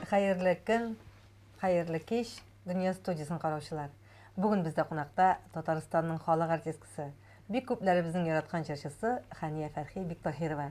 Хәерле көн, хәерле кич, Дөнья студиясен караучылар. Бүген бездә кунакта Татарстанның халык артисткасы, бик күпләребезнең яраткан җырчысы Хания Фәрхи Бектаһирова.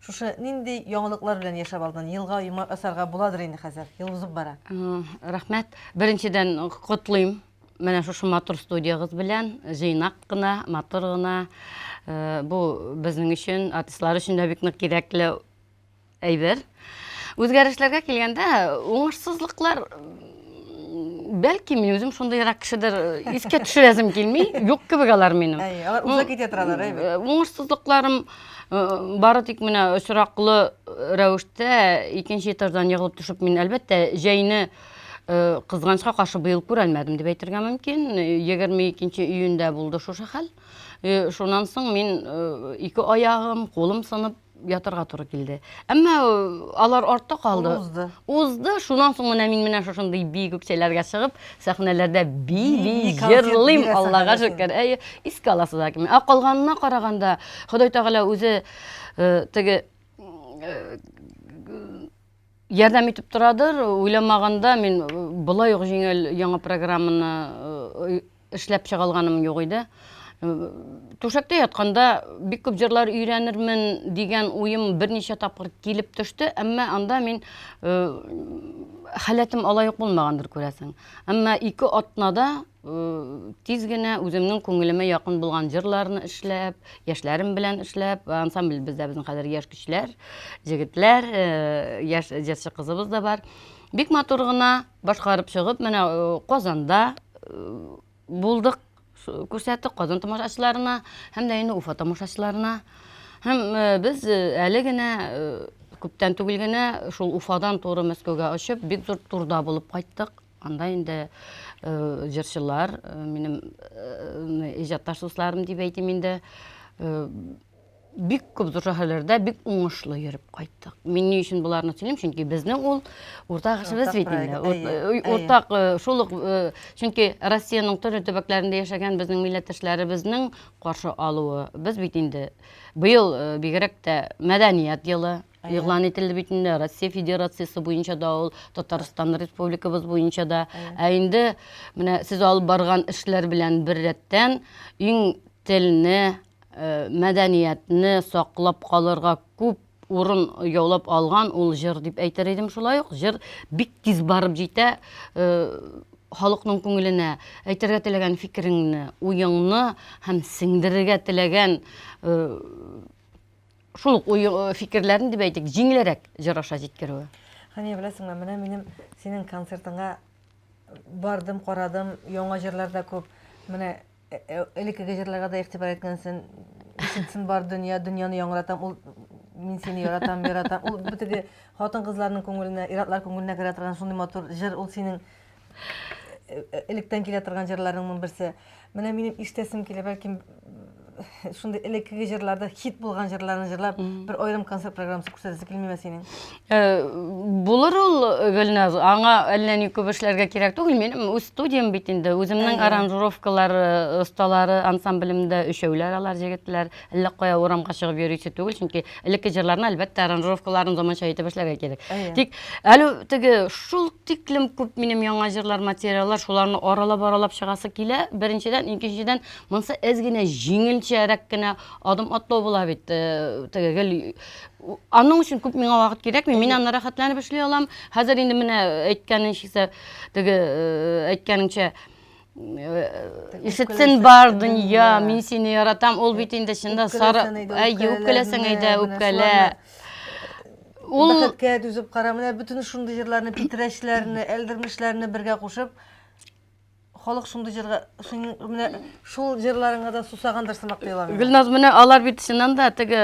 Шушы нинди яңалыклар белән яшәп алдың? Елга йомар асарга буладыр инде хәзер. Ел узып бара. Рәхмәт. Беренчедән котлыйм менә шушы матур студиягыз белән җыйнак кына матур гына э, бу безнең өчен артистлар өчен дә бик нык кирәкле әйбер үзгәрешләргә килгәндә уңышсызлыклар бәлки мин үзем шундыйрак кешедер искә төшерәсем килми юк кебек алар минем алар уза китә торалар әйбәт уңышсызлыкларым бары тик менә очраклы рәвештә икенче этаждан егылып төшеп мин әлбәттә җәйне кызганычка каршы быел күрәлмәдем дип әйтергә мөмкин егерме икенче июньдә булды шушы хәл шуннан соң мин ике аягым кулым сынып ятырга туры килде. Әмма э, алар артта калды. Узды. Узды. Шуннан соң менә мин менә шушындый бии күкчәләргә чыгып, сәхнәләрдә бии-бии җырлыйм, Аллага шөкер. Әйе, искә аласыз әкме. Ә калганына караганда, Ходай Тәгалә үзе э, теге э, ярдәм итеп торадыр. Уйламаганда мин болай ук җиңел яңа программаны Эшләп чыга алганым юк иде. Түшәктә ятканда бик күп җырлар өйрәнермен дигән уем берничә тапкыр килеп төште, әмма анда мин э, халәтем алай ук булмагандыр күрәсең. Әмма ике атнада э, тиз генә үземнең күңелемә якын булган җырларны эшләп, яшьләрем белән эшләп, ансамбль бездә безнең хәзер яшь көчләр, җегетләр, э, яшь җырчы кызыбыз да бар. Бик матур гына Башкарып чыгып, менә э, Казанда э, булдык, күрсәттек Казан тамашачыларына һәм дә инде Уфа тамашачыларына. Һәм э, без әле генә күптән түгел генә шул Уфадан туры Мәскәүгә очып, бик зур турда булып кайттык. Анда инде э, җырчылар, э, минем э, иҗатташ дусларым дип әйтим инде, бик күп зур шәһәрләрдә бик уңышлы йөреп кайттык. Мин ни өчен буларны сөйлим, чөнки безнең ул уртак эшебез бит инде. Уртак шул ук чөнки Россиянең төрле төбәкләрендә яшәгән безнең милләттәшләребезнең каршы алуы. Без бит инде быел бигрәк тә мәдәният елы игълан ителде бит инде Россия Федерациясе буенча да ул Татарстан Республикабыз буенча да. Ә инде менә сез алып барган эшләр белән беррәттән иң телне мәдәниятне саклап калырга күп урын яулап алган ул җыр дип әйтер идем шулай ук җыр бик тиз барып җитә э, халыкның күңеленә әйтергә теләгән фикереңне уеңны һәм сеңдерергә теләгән э, шул ук уй э, фикерләрен дип әйтик җиңелрәк җыр аша җиткерүе Хәния беләсеңме менә минем синең концертыңа бардым карадым яңа җырлар да күп менә Э, э, элеккеге җырларга да игътибар иткәнсен ишетсен бар дөнья дөньяны яңратам ул мин сине яратам яратам ул битеге хатын кызларның күңеленә иратлар күңеленә керә торган шундый матур җыр ул синең э, электән килә торган җырларыңның берсе менә минем ишетәсем килә бәлки Шундый элеккеге җырларда хит булган җырларны җырлап, бер аерым концерт программасы күрсәтәсе килмиме синең? Э, булыр ул э, Гөлназ, аңа әллә ни күп эшләргә кирәк түгел. Минем үз студиям бит инде, үземнең аранжировкалар осталары э, ансамблемдә өчәүләр алар җегетләр. Әллә кая урамга чыгып йөрисе түгел, чөнки элекке җырларны әлбәттә аранжировкаларын заманча итеп эшләргә кирәк. Тик әле теге шул тиклем күп минем яңа җырлар материаллар, шуларны аралап-аралап чыгасы килә. Беренчедән, икенчедән Монсы әз генә җиңелчәрәк кенә адым атлау була бит. Э, теге гел аның өчен күп миңа вакыт кирәкми. Мин аны рәхәтләнеп эшли алам. Хәзер инде менә әйткәнеңчә, теге э, әйткәнеңчә э, ишетсен бар дөнья, мин сине яратам. Ул бит инде чында сары, әй, үпкәләсәң әйдә, үпкәлә. Ул бәхеткә түзеп кара, менә бөтен шундый җырларны, питрәчләрне, әлдермешләрне бергә кушып, Халык шундый җырга, синең менә шул җырларыңа да сусагандыр сымак тоела миңа. Гөлназ, менә алар бит чыннан да теге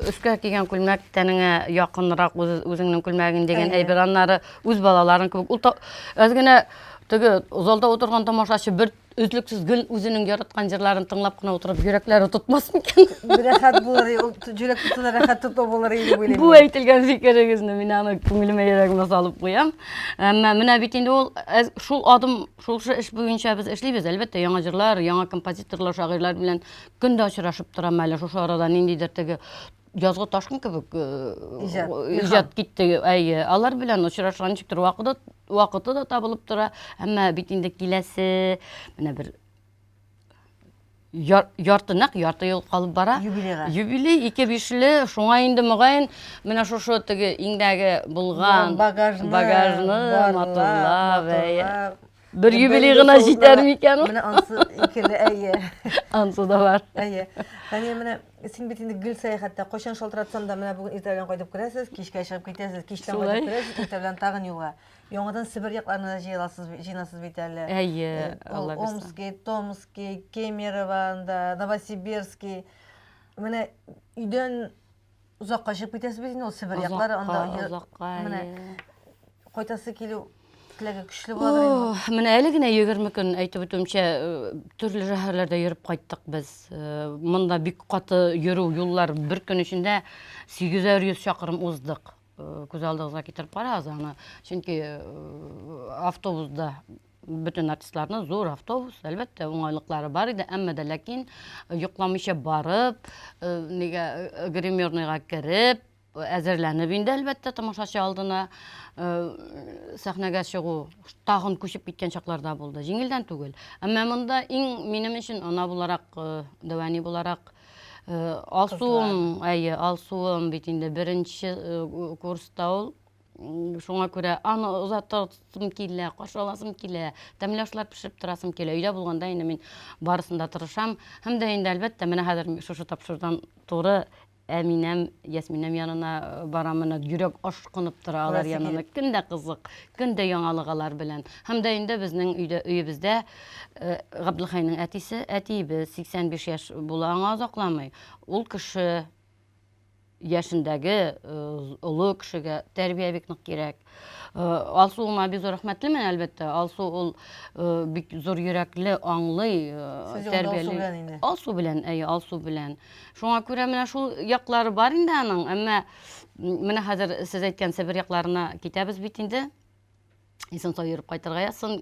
өскә кигән күлмәк тәнеңә якынрак үзеңнең күлмәгең дигән әйбер, аннары үз балаларың кебек. Ул аз генә теге залда утырган тамашачы бер Үзлексез гел үзенең яраткан җырларын тыңлап кына утырып, йөрәкләре тотмас микән? Рәхәт булыр, ул җөрәк тотуына рәхәт тоту булыр иде дип уйлыйм. Бу әйтелгән фикерегезне мин аны күңелемә, йөрәгемә салып куям. Әмма менә бит инде ул э, шул адым, шул эш буенча без эшлибез. Әлбәттә, яңа җырлар, яңа композиторлар, шагыйрьләр белән көн дә очрашып торам әле шушы арада ниндидер теге язгы ташкын кебек иҗат китте әйе алар белән очрашырга ничектер вакыты вакыты да табылып тора әмма бит инде киләсе менә бер ярты нәкъ ярты ел калып бара юбилейга юбилей ике бишле шуңа инде мөгаен менә шушы теге иңдәге булган багажны багажны матурлап Бер юбилей гына җитәр микән ул? Менә ансы икеле, әйе. Ансы да бар. Әйе. Фәния, менә син бит инде гел сәяхәттә. Кайчан шалтыратсам да, менә бүген иртә белән кайтып керәсез, кичкә чыгып китәсез, кичтән кайтып керәсез, иртә белән тагын юлга. Яңадан Себер якларына да җыеласыз, җыйнасыз бит әле. Әйе, э, Алла бирсә. Омский, Томский, Кемерово, Новосибирский. Менә өйдән Озакка чыгып китәсез бит инде ул Себер яклары анда. Озакка, озакка. Менә кайтасы килү теләге көчле буладыр инде. Менә әле генә 20 көн әйтеп үтүемчә э, төрле шәһәрләрдә йөреп кайттык без. Э, монда бик каты йөрү юллар бер көн эчендә 800 чакрым уздык. Э, күз алдыгызга китереп карагыз аны. Чөнки автобусда бөтен артистларны зур автобус, әлбәттә, уңайлыклары бар иде, әмма дә ләкин э, йоклаучы барып, э, нигә э, гримерныйга кереп, әзерләнеп инде әлбәттә тамашачы алдына сәхнәгә чыгу тагын күчеп киткән чакларда булды җиңелдән түгел әмма монда иң минем өчен ана буларак дәвәни буларак алсуым әйе алсуым бит инде беренче курста ул Шуңа күрә аны озатасым килә, каршы аласым килә, тәмле ашлар пешереп торасым килә. Өйдә булганда инде мин барысын да тырышам. Һәм дә инде, әлбәттә, менә хәзер шушы тапшырудан туры Әминәм, Ясминәм янына э, барам, менә йөрәк ашкынып тора алар янына. Көн дә кызык, көн дә яңалык алар белән. Һәм дә инде безнең өйдә, өебездә э, Габдулхайның әтисе, әтиебез 85 яшь була, аңа озакламый. Ул кеше яшендәге э, олы кешегә тәрбия бик нык кирәк. Э, Алсу уңа бик зур рәхмәтлемен, әлбәттә. Алсу ул э, бик зур йөрәкле, аңлый, Сез Алсу белән инде. Алсу белән, әйе, Алсу белән. Шуңа күрә менә шул яклары бар инде аның, әмма менә хәзер сез әйткән Себер якларына китәбез бит инде. Исән сау йөреп кайтырга язсын.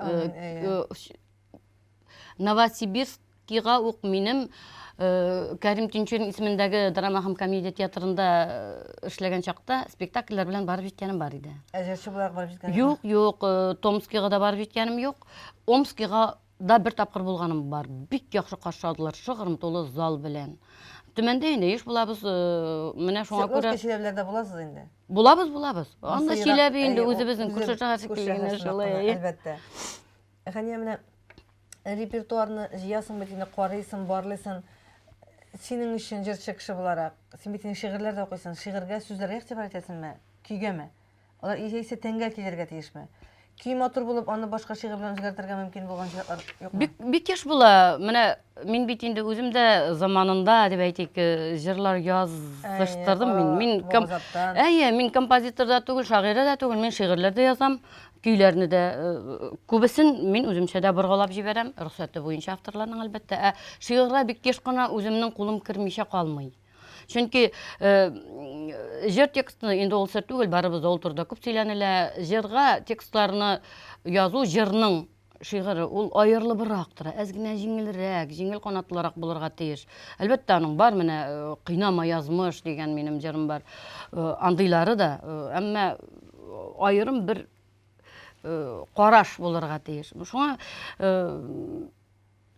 Новосибирскига ук минем э, Кәрим Тинчурин исемендәге драма һәм комедия театрында э, эшләгән чакта спектакльләр белән барып җиткәнем бар иде. Ә җырчы буларак барып җиткән? Юк, юк, э, Томскига да барып җиткәнем юк. Омскига да бер тапкыр булганым бар. Бик яхшы каршы алдылар, шыгрым тулы зал белән. Төмәндә инде еш булабыз, э, менә шуңа Свердловск күрә кешеләрләрдә буласыз инде. булабыз, булабыз. Анда Сыйрак, Чиләбе инде әйе, ул үзебезнең күрше шәһәр күрше шикелле генә шәһәр шулай. шундый, әйе. Әлбәттә. Хәния, менә репертуарны җыясың бит инде, карыйсың, барлыйсың. Синең өчен җырчы кеше буларак, син бит инде шигырьләр дә укыйсың. Шигырьгә, сүзләргә игътибар итәсеңме? Көйгәме? Алар яисә тәнгә килергә тиешме? Көй матур булып, аны башка шигырь белән үзгәртергә мөмкин булган чаклар юкмы? Бик, бик еш була. Менә Мин бит инде үзем дә заманында, дип әйтик, җырлар языштырдым мин. Мин ком... Әйе, мин композитор да түгел, шагыйрә дә түгел, мин шигырьләр дә язам, көйләрне дә күбесен мин үземчә дә боргалап җибәрәм, рөхсәте буенча авторларның әлбәттә. Ә шигырьгә бик еш кына үземнең кулым кермичә калмый. Чөнки җыр текстны инде ул сер түгел, барыбыз да ул турыда күп сөйләнелә. Җырга текстларны язу җырның шигыре ул аерылыбрак тора, әз генә җиңелрәк, җиңел канатлырак булырга тиеш. Әлбәттә, аның бар менә э, кыйнама язмыш дигән минем җырым бар. Э, андыйлары да, э, әмма аерым бер караш булырга тиеш. Шуңа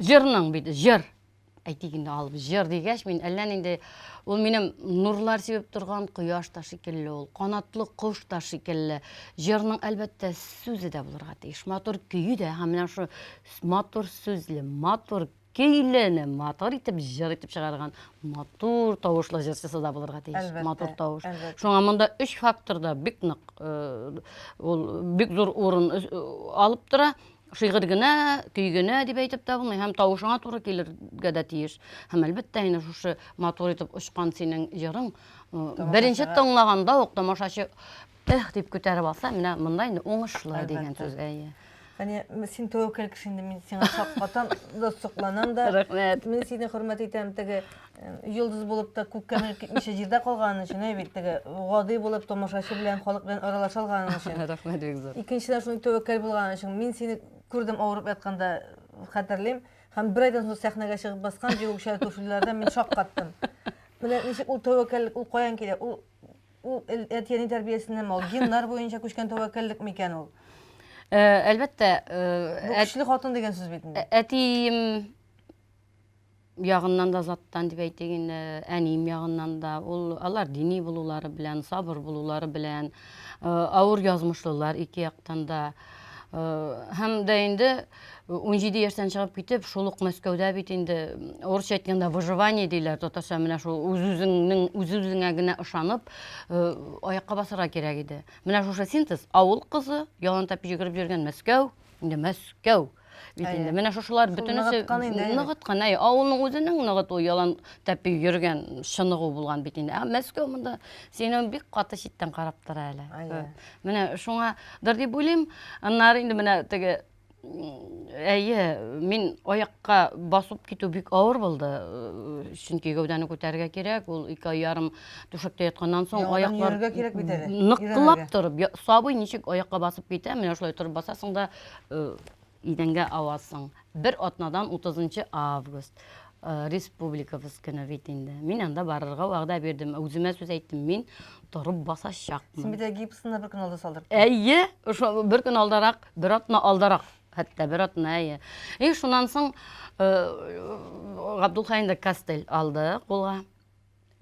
Җырның бит, җыр. Әйтик инде алып җыр дигәч, мин әллә нинди ул минем нурлар сибеп торган кояш та шикелле ул, канатлы кош та шикелле. Җырның әлбәттә сүзе дә булырга тиеш, матур көе дә һәм менә шул матур сүзле, матур көйләне матур итеп җыр итеп чыгарган матур тавышлы җырчысы да булырга тиеш матур тавыш шуңа монда өч факторда бик нык э, ул бик зур урын э, алып тора Шигырь генә, көй генә дип әйтеп тә булмый, һәм тавышыңа туры килергә дә тиеш. Һәм әлбәттә инде шушы матур итеп очкан синең җырың беренче тыңлаганда ук тамашачы эх дип күтәреп алса, менә монда инде уңышлы дигән сүз. Әйе. Әне син тәвәккәл кеше инде мин сиңа шаккатам да сокланам да. Рәхмәт. Мин сине хөрмәт итәм теге Йолдыз булып та күккә менеп китмичә җирдә калган өчен, әй бит теге гади булып томашачы белән, халык белән аралаша алган өчен. Рәхмәт бик зур. Икенчедән шундый тәвәккәл булган өчен. Мин сине күрдем авырып ятканда, хәтерлим. Һәм бер айдан соң сәхнәгә чыгып баскан биючә күршеләрдә мин шаккаттым. Менә ничек ул тәвәккәллек, ул каян килә? Ул ул әти-әни тәрбиясеннән ул геннар буенча күчкән тәвәккәллек микән ул? Э, әлбәттә, э, бу көчле хатын дигән сүз бит инде. Әтием ягыннан да заттан дип әйтик инде, әнием ягыннан да, ул алар дини булулары белән, сабыр булулары белән, э, авыр язмышлылар ике яктан да. Э, һәм дә инде унҗиде яшьтән чыгып китеп, шул ук Мәскәүдә бит инде урысча әйткәндә выживание диләр, татарча менә шул үз-үзеңнең үз-үзеңә генә ышанып, э, аякка басарга кирәк иде. Менә шушы синтез, авыл кызы, ялан тәпи йөгереп йөргән Мәскәү, инде мәскәү бит инде менә шушылар бөтенесе ныгыткан әй авылның үзенең ныгыту ялан тәпи йөргән чыныгу булган бит инде ә мәскәү монда сине бик каты читтән карап тора әле менә шуңадыр дип уйлыйм аннары инде менә теге әйе мин аякка басып китү бик авыр булды чөнки гәүдәне күтәрергә кирәк ул ике ай ярым Түшәктә ятканнан соң аяклар нык кылап торып, сабый ничек аякка басып китә, менә шулай торып басасың да э, идәнгә авасың. Бер атнадан 30 август э, республикабыз көне бит инде. Мин анда барырга вәгъдә бирдем. Үземә сүз әйттем, мин торып басачакмын. Син бит гипсны бер көн алда салдырдың. Әйе, ошо бер көн алдарак, бер атна алдарак хәтта бер атна әйе и шуннан соң э, габдулхаенда костыль алды кулга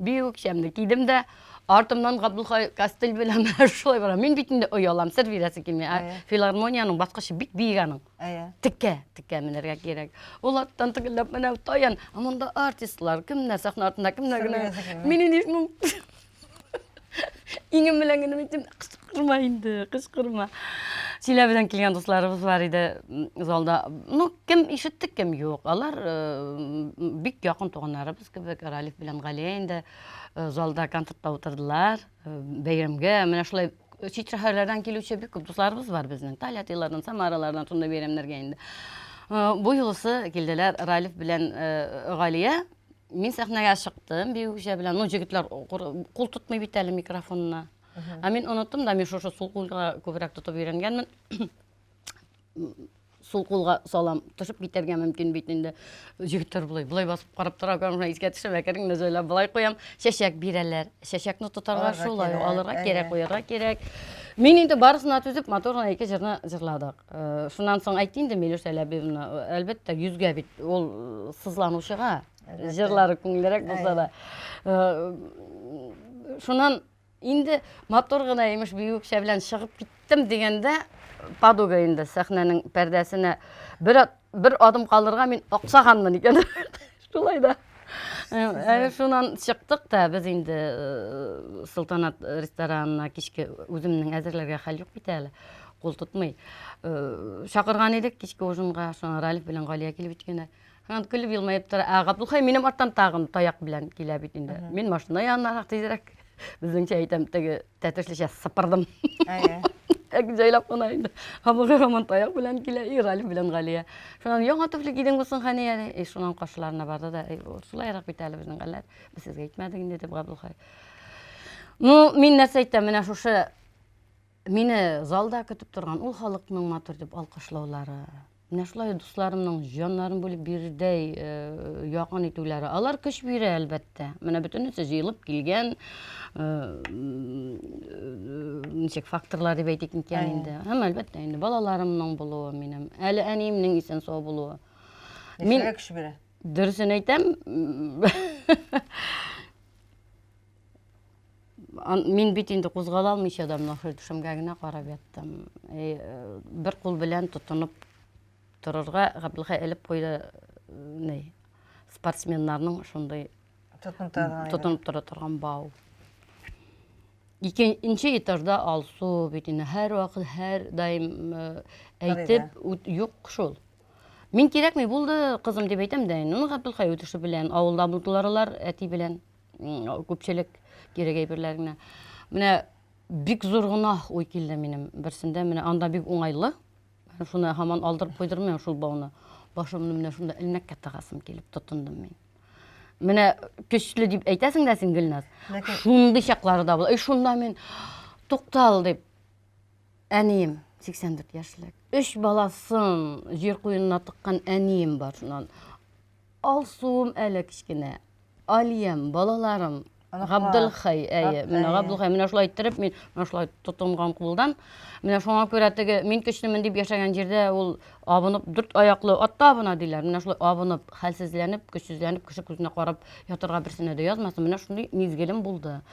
Бию кичәмне кидем дә, артымнан Габдулхай костыль белән менә шулай барам. Мин бит инде оялам, сер бирәсе килми. Ә Әйе. филармониянең баскычы бик биек аның. Әйе. Текә, текә менәргә кирәк. Ул арттан тегелләп менә таян, ә монда артистлар, кемнәр сәхнә артында, кемнәр Сер генә. бирәсе килми. Мин инде шуның иңем белән генә әйттем, кычкырма инде, кычкырма. Чиләбедән килгән дусларыбыз бар иде м, залда. Ну, кем ишетте, кем юк. Алар э, м, бик якын туганнарыбыз. Кебек Ралиф белән Галия инде э, залда концертта утырдылар. Э, бәйрәмгә менә шулай э, чит шәһәрләрдән килүче бик күп дусларыбыз бар безнең. Тольяттилардан, Самаралардан шундый бәйрәмнәргә инде. Бу юлысы килделәр Ралиф белән Галия. Мин сәхнәгә чыктым биючә белән. Ну, җегетләр кул тотмый бит әле микрофонына. Ә мин оныттым да, мин шушы сул кулга күбрәк тотып өйрәнгәнмен. сул кулга салам төшеп китәргә мөмкин бит инде егетләр болай болай басып карап тора гына искә төшерә керең нәзәлә болай куям чәчәк бирәләр чәчәкне тотарга шулай алырга кирәк куярга кирәк мин инде барысына түзеп матур гына ике җырны җырладык э, шуннан соң әйт инде милүш әләбиевна әлбәттә йөзгә бит ул э, сызланучыга җырлары күңеллерәк булса да э, шуннан Инде матур гына имеш биюкчә белән чыгып киттем дигәндә, подуга инде сәхнәнең пәрдәсенә бер, бер адым калырга мин аксаганмын икән. Шулай да. Ә, шуннан чыктык та без инде э, Султанат ресторанына кичке үземнең әзерләргә хәл юк бит әле. Кул тотмый. Э, Чакырган идек кичке ужинга, шуңа Ралиф белән Галия килеп җиткәннәр. Һәм көлеп елмаеп тора. Ә Габдулхай минем арттан тагын таяк белән килә бит инде. Мин машина янына тизрәк. Безнеңчә әйтәм, теге тәтешлечә сыпырдым. Әйе. Әк җайлап кына инде. Хабыгы һаман таяк белән килә, и Галиф белән Галия. Шуннан яңа туфли кидең булсын хәни әле. И шуннан каршыларына барды да, шулайрак бит әле безнең хәлләр. Без сезгә әйтмәдек инде дип Габдулхай. Ну, мин нәрсә әйтәм, менә шушы Мине залда көтеп торган ул халыкның матур дип алкышлаулары, менә шулай дусларымның җаннарын бүлеп бирердәй э, якын итүләре, алар көч бирә, әлбәттә. Менә бөтенесе җыелып килгән э, ничек факторлар дип әйтик микән инде. Һәм әлбәттә инде балаларымның булуы минем, әле әниемнең исән сау булуы. Мин көч бирә. Дөресен әйтәм. Мин бит инде кузгала алмыйча да менә шул түшәмгә генә карап яттым. Э, бер кул белән тотынып торырга Габдулхай элеп куйды э, спортсменнарның шундый тотынып тора торган бау. Икенче этажда Алсу бит инде һәр вакыт, һәр даим э, әйтеп, юк шул. Мин кирәкми булды, кызым дип әйтәм дә, ну Габдулхай үтеше белән авылда булдылар алар әти белән. күпчелек кирәк әйберләр генә. Менә бик зур гына уй килде минем берсендә. Менә анда бик уңайлы. Шуны һаман алдырып куйдырмыйм шул бауны. Башымны менә шунда элмәккә тыгасым килеп тотындым мин. Менә көчле дип әйтәсең дә син Гөлназ. Ләкин... Шундый чаклары да була. И шунда мин туктал дип әнием 84 яшьлек. Өч баласын җир куенына тыккан әнием бар шуннан. Алсуым әле кечкенә. Алиям, балаларым, Габделхай, әйе, менә Габделхай, менә шулай иттереп, мин менә шулай тотынган кулдан. Менә шуңа күрә теге мин көчлемен дип яшәгән җирдә ул абынып, дүрт аяклы атта абына диләр. Менә шулай абынып, хәлсезләнеп, көчсезләнеп, кеше күзенә карап ятырга берсенә дә язмасын. Менә шундый мизгелем булды.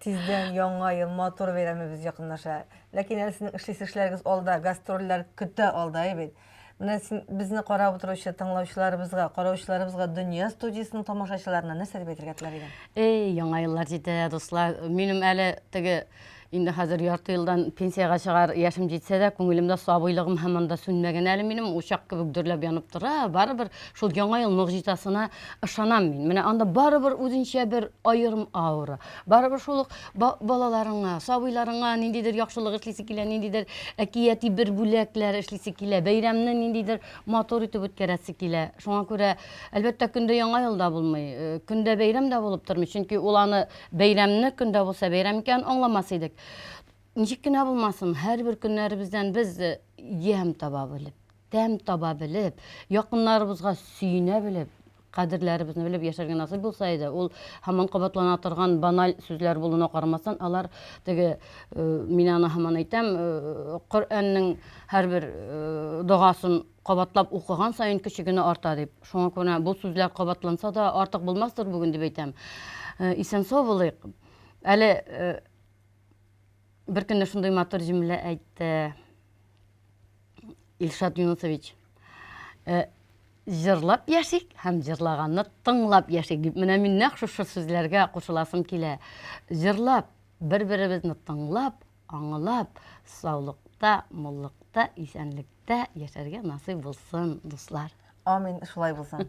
Тиздән яңа ел, матур бәйрәмебез якынлаша. Ләкин әле сезнең эшлисе эшләрегез алда, гастрольләр көтә алда, әй бит. Менә син безне карап утыручы тыңлаучыларыбызга, караучыларыбызга Дөнья студиясенең тамашачыларына нәрсә дип әйтергә теләр идең? Эй, яңа еллар җитә, дуслар. Минем әле теге инде хәзер ярты елдан пенсиягә чыгар яшем җитсә дә, күңелемдә сабыйлыгым һаман да сүнмәгән әле минем, учак кебек дөрләп янып тора. Барыбер Шул Яңа ел могҗизасына ышанам мин. Менә анда барыбер үзенчә бер аерым аура. Барыбер шул ук балаларыңа, сабыйларыңа ниндидер яхшылык эшлисе килә, ниндидер әкияти бер бүләкләр эшлисе килә, бәйрәмне ниндидер матур итеп үткәрәсе килә. Шуңа күрә, әлбәттә, көндә Яңа ел да булмый, э, көндә бәйрәм дә булып тормый, чөнки ул аны бәйрәмне көндә булса бәйрәм икәнен аңламас идек. Ничек кенә булмасын, һәрбер көннәребездән без э, ямь таба белеп, тәм таба белеп, якыннарыбызга сөенә белеп, кадерләребезне белеп яшәргә насыйп булса иде, ул һаман кабатлана торган баналь сүзләр булуына карамастан, алар теге, э, мин аны һаман әйтәм, э, Коръәннең һәрбер э, догасын кабатлап укыган саен көче генә арта дип. Шуңа күрә бу сүзләр кабатланса да артык булмастыр бүген дип әйтәм. Э, исән сау булыйк. Әле э, бер көнне шундый матур җөмлә әйтте. Илшат Юнусович, э, җырлап яшик һәм җырлаганны тыңлап яшик дип менә мин нәкъ шушы сүзләргә кушыласым килә. Җырлап, бер-беребезне тыңлап, аңлап, саулыкта, муллыкта, исәнлектә яшәргә насыйп булсын, дуслар. Амин, шулай булсын.